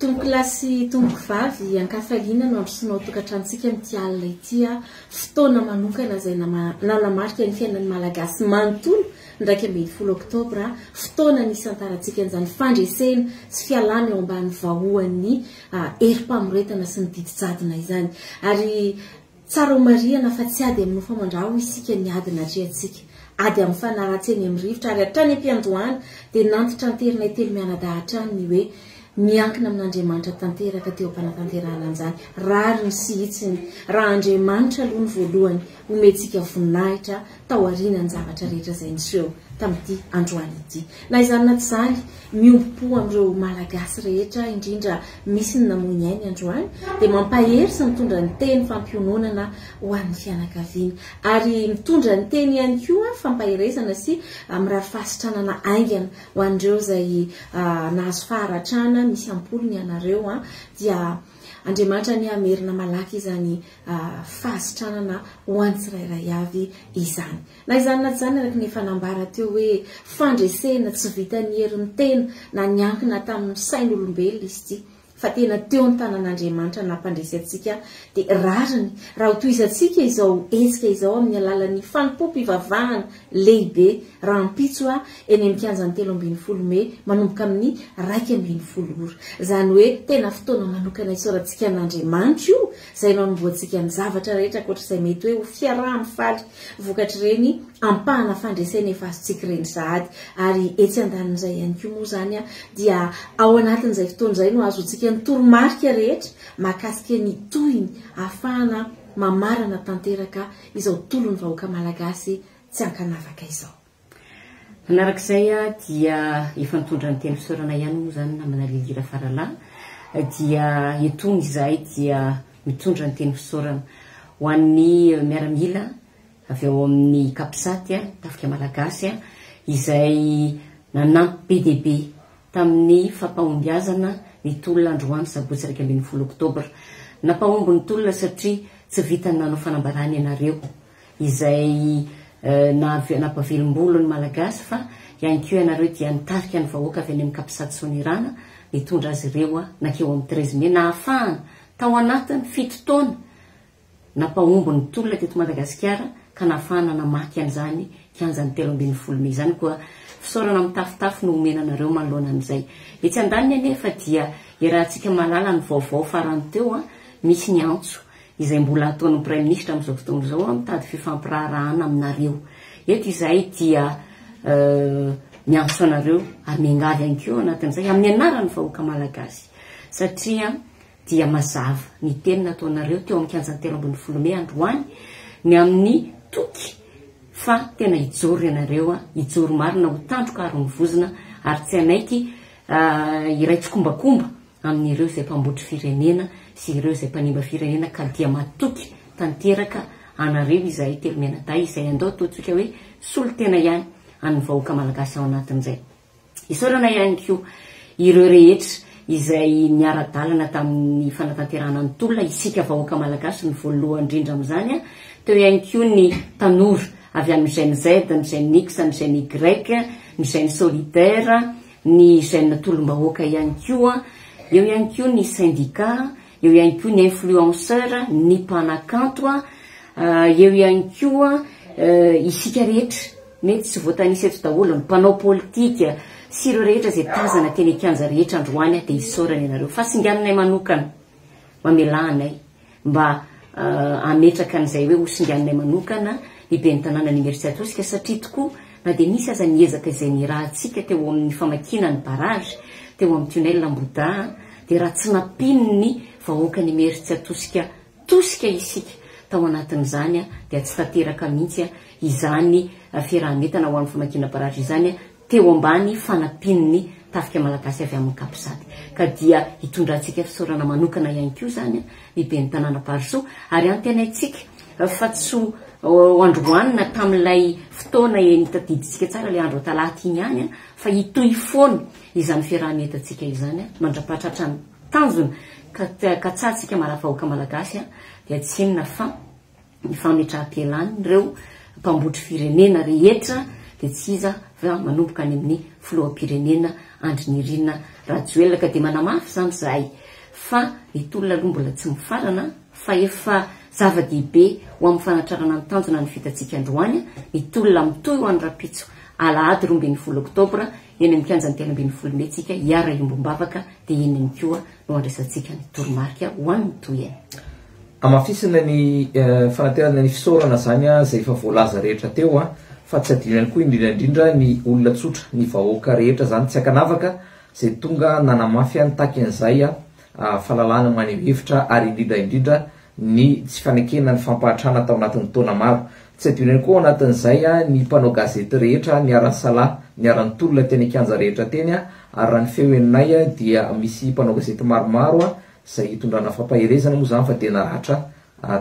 Tompokolahy sy tompokovavy an-kafaliana no handrosoana ao an-tokantranontsika amin'ity alina ity aho. Fotoana manokana izay nanamarika ny fiainan'ny Malagasy manontolo ny iraika ambin'ny folo oktobra, fotoana nisantarantsika an'izany fandresena sy fialana eo ambany vahoan'ny herim-pamoretana sy ny didy jadona izany. Ary. Tsara homarihana fa tsy ady amin'ny hofamandraha hoy isika ny ady natrehantsika. Ady amin'ny fanahy ratsy eny amin'ny rivotra ary hatrany am-piandohana dia nantitranteranay telo mianadahy hatrany ny hoe miankina amin'Andriamanitra tanteraka teo am-panatanterahana an'izany rariny sy hitsiny raha Andriamanitra aloha no voalohany homentsika voninahitra taorianan'ny zavatra rehetra izay niseho tamin'ity androany ity. Na izany na tsy izany, miombom-po amin'ireo Malagasy rehetra, indrindra misy ny namoy ny ainy androany, dia mampahery sy mitondra ny teny fampiononana ho an'ny fianakaviany. Ary mitondra ny teny ihany koa fampaherezana sy mirary fahasitranana haingana ho an'ireo izay nahazo faharatrana, misy am-polony ianareo an, dia Andriamanitra anie hamerina malaky izany fahasitranana ho an'ny tsirairay avy izany. Na izany na tsy izany, araka ny efa nambara teo hoe fandresena tsy vitan'ny herin'ny tena na niankina tamin'ny sain'olombelona izy ity fa tena teo ny tanan'Andriamanitra nampandresy antsika dia rariny raha ho tohizantsika izao hetsika izao amin'ny alalan'ny fanompoam-pivavahana lehibe rahampitso aho eny amin'ny kianjan'ny telo ambin'ny folo mey manomboka amin'ny iraika ambin'ny folo ora. Izany hoe tena fotoana manokana isaorantsika an'Andriamanitra io izay nanombohantsika ny zavatra rehetra ankoatra izay mety hoe ho fiaraha-mifaly vokatr'ireny ampahana fandresena efa azontsika ireny sahady ary etsy andanin'izay ihany koa moa izany dia ao anatin'izay fotoana izay no ahazoantsika ny toromarika rehetra mahakasika ny tohiny ahafahana mamarana tanteraka izao tolon'ny vahoaka malagasy tsy ankanavaka izao. Manarak'izay dia efa nitondra ny teny fisaorana ihany moa izany namana Lily Rafaralahy dia etony izahay dia mitondra ny teny fisaorana ho an'ny miaramila avy ao amin'ny Capsat, Tafika Malagasy, izay nanampy be dia be tamin'ny fampahombiazana ny tolona androany sabotsy iraika ambin'ny folo oktobra. Nampahomby ny tolona satria tsy vitan'ny nanao fanambarana ianareo, izay naha nampahavelom-bolo ny Malagasy fa ihany koa ianareo dia nitarika ny vahoaka avy any amin'ny Capsat Sonirana nitondra azy ireo nankeo amin'ny treize mai nahafahana tao anatin'ny fito taona Nampahomby ny tolona teto Madagasikara ka nahafahana namaky an'izany kianjan'ny telo ambin'ny folo mey izany koa fisaorana mitafotafo no omena anareo manoloana an'izay. Etsy andaniny anefa dia iarahantsika mahalala ny vaovao farany teo an, misy ny antso izay mbola ataon'ny Praiminisitra amin'izao fotoana izao an, mitady fifampiraharahana aminareo. Eto izahay dia miantso anareo ary miangavy ihany koa eo anatin'izay amin'ny anaran'ny vahoaka Malagasy satria dia mazava ny teny nataonareo teo amin'ny kianjan'ny telo ambin'ny folo mey androany ny amin'ny toky fa tena hijoro ianareo an, hijoro marina ho tandroka aron'ny vozona ary tsy hanaiky hiray tsikombakomba amin'ireo izay mpambotry firenena sy ireo izay mpanimba firenena ka dia matoky tanteraka anareo izahay telo mianadahy izay andao ataontsika hoe solon-tena ihany an'ny vahoaka malagasy ao anatin'izay Isaorana ihany koa ireo rehetra izay niara-dalana tamin'ny fanatanterahana ny tolona, isika vahoaka malagasy no voalohany indrindra amin'izany, teo ihany koa ny tanora avy amin'ny Gen Z, ny Gen X, ny Gen Y, ny Gen Solidaire, ny Gen Tolom-bahoaka ihany koa, eo ihany koa ny Syndicat, eo ihany koa ny influenceur, ny mpanakanto a, eo ihany koa isika rehetra mety tsy voatanisa eto daholo, ny mpanao politika sy ireo rehetra izay tazana teny an-kianja rehetra androany dia isaorana ianareo fa singaninay manokana, mamelà anay mba hametraka an'izay hoe hosinganinay manokana ny ben'ny tanànan'Imeritsiatosika satria tokoa Na dia nisy aza ny ezaka izay nirahantsika teo amin'ny famakiana ny barrage teo amin'ny tunnel Ambohidahy an, dia raha tsy nampian'ny vahoakan'ny Imerintsiatosika tosika isika tao anatin'izany an, dia tsy tanteraka mihitsy izany fiaraha-mientana ho amin'ny famakiana barrage izany teo ambany fanampian'ny Tafika Malagasy avy amin'ny Capsat. Ka dia hitondrantsika fisaorana manokana ihany koa izany an, ny ben'ny tanàna Barisoa ary antenaintsika fa tsy ho androany na tamin'ilay fotoana eny tadidintsika tsara ilay andro talata iny ihany fa hitohy foana izany fiaraha-mientantsika izany mandrapahatratra ny tanjona ka katsahantsika maraha vahoaka malagasy dia tsy inona fa ny fametraha-pialan'ireo mpambotry firenena rehetra dia tsy iza fa manomboka any amin'ny filoham-pirenena Andry Nirina Rajoelina ka dia manamafy izany izahay fa ny tolona aloha mbola tsy mifarana fa efa zava-dehibe ho amin'ny fanatrarana ny tanjona ny vitantsika androany ny tolona mitohy ho any rahampitso alahady roa ambin'ny folo oktobra eny amin'ny kianjan'ny telo ambin'ny folo mey tsika hiara-hiombom-bavaka dia eny ihany koa no handraisantsika ny toromarika ho an'ny tohiny. Hamafisina ny fanaterana ny fisaorana izany izay efa voalaza rehetra teo fa tsy adino ihany koa indrindra indrindra ny olona tsotra, ny vahoaka rehetra izany tsy ankanavaka izay tonga nanamafy ny takin'izay fahalalahana maneho hevitra ary indrindra indrindra ny tsy fanekena ny fampahantrana tao anatin'ny taona maro. Tsy adino ihany koa ao anatin'izay ny mpanao gazety rehetra niara-nisalahy, niara-nitolona teny an-kianja rehetra teny ary raha ny feo henonay dia misy mpanao gazety maromaro izay hitondrana fampaherezana moa izany fa dia naratra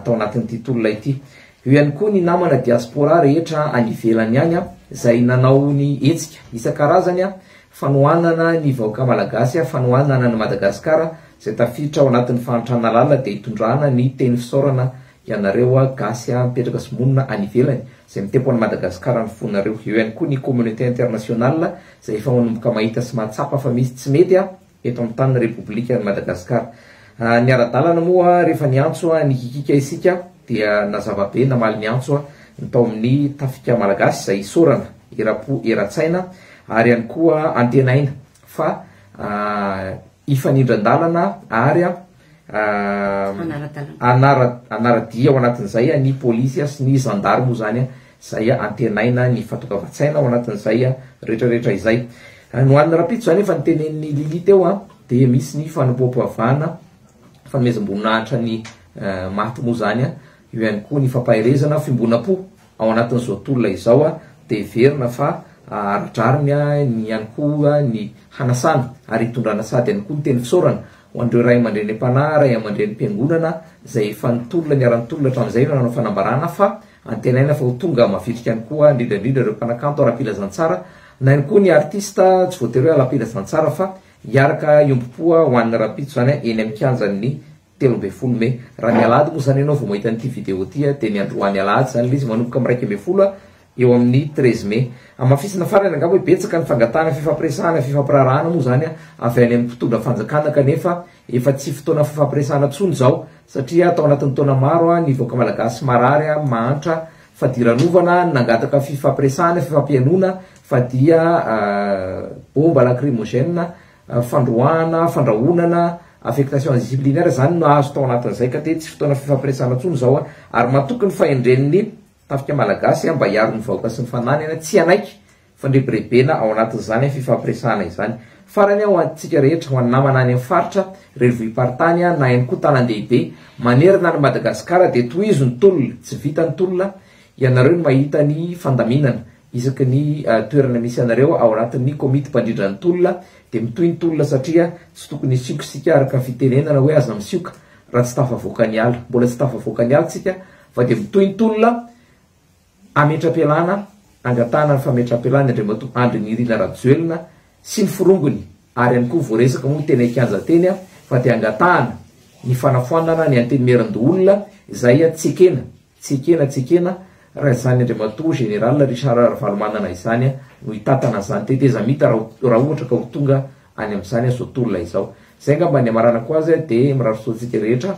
tao anatin'ity tolona ity. Eo ihany koa ny namana diaspora rehetra any ivelany any izay nanao ny hetsika isan-karazany fanohanana ny vahoaka malagasy, fanohanana an'i Madagasikara izay tafiditra ao anatin'ny fahantrana lalina dia hitondrana ny teny fisaorana ianareo gasy mipetraka sy monina any ivelany izay mitempo an'i Madagasikara ny fonareo. Eo ihany koa ny communauté internationale izay efa manomboka mahita sy mahatsapa fa misy tsy mety eto amin'ny tanin'ny Repoblikan'i Madagasikara. Ny ara-dalana moa rehefa niantso nikikika isika dia nazava be namaly ny antso ny tao amin'ny Tafika Malagasy izay isaorana eram-po eran-tsaina ary ihany koa antenaina fa hifanindran-dalana ary Anara-dia ao anatin'izay ny polisy sy ny zandary moa izany izay antenaina ny fahatokavan-tsaina ao anatin'izay retraretra izay. Ny ho an'ny rahampitso izany efa notenenin'i Lily teo dia misy ny fanompoam-pivavahana, fanomezam-boninahitra ny maty moa izany, eo ihany koa ny fampaherezana fiombonam-po ao anatin'izao tolona izao dia heverina fa ara-drariny ihany koa ny hanasana ary hitondrana sady ihany koa ny teny fisaorana Ho an'ireo ray aman-dreny mpanahy, ray aman-dreny mpiangonana izay efa nitolona niara-nitolona hatramin'izay ireo nanao fanambarana fa antenaina fa ho tonga mavitrika any koa indrindra indrindra ireo mpanakanto ara-pilazantsara na ihany koa ny artista tsy voatery hoe ala-pilazantsara fa hiaraka hiombom-poa ho an'ny rahampitso izany eny amin'ny kianjan'ny telo ambin'ny folo mey raha ny alahady moa izany ianao vao mahita an'ity video ity dia ny androany alahady izany ilay izy manomboka amin'ny iraika ambin'ny folo eo amin'ny treize mai. Hamafisina farany angamba hoe betsaka ny fangatahana fifampiresahana, fifampiraharahana moa izany avy any amin'ny mpitondra fanjakana kanefa efa tsy fotoana fifampiresahana intsony izao satria tao anatin'ny taona maro ny vahoaka malagasy marary, mahantra, fadiranovana, nangataka fifampiresahana, fifampihainoana fa dia bomba lacrymogène, fandroahana, fandrahonana, affectation disciplinaire izany no nahazo tao anatin'izay ka dia tsy fotoana fifampiresahana intsony izao ary matoky ny fahendren'ny Tafika Malagasy mba hiaro ny vahoaka sy ny fananany tsy hanaiky fandrebirebena ao anatin'izany fifampiresahana izany. Farany ho antsika rehetra, ho an'ny namana any amin'ny faritra, renivohi-paritany na ihany koa tanan-dehibe manerana an'i Madagasikara dia tohizo ny tolona, tsy vita ny tolona, ianareo no mahita ny fandaminana isaky ny toerana misy anareo ao anatin'ny komity mpandrindra ny tolona dia mitohy ny tolona satria tsy tokony hisioka isika araka ny fitenenana hoe aza misioka raha tsy tafavoaka ny ala, mbola tsy tafavoaka ny ala isika Fa dia mitohintonina hametra-pialana angatahana ny fametraham-pialany Andriamatoa Andry Nirina Rajoelina sy ny forongony ary ihany koa voaresaka moa teny an-kianja teny fa dia angatahana ny fanafoanana ny Antenimierandoholona izay tsy ekena, tsy ekena, tsy ekena raha izany Andriamatoa Général Richard Ravalomanana izany no hitantana an'izany tetezamita raha ohatra ka ho tonga any amin'izany zao tolona izao. Izay angamba ny hamaranako azy dia mirary soa antsika rehetra.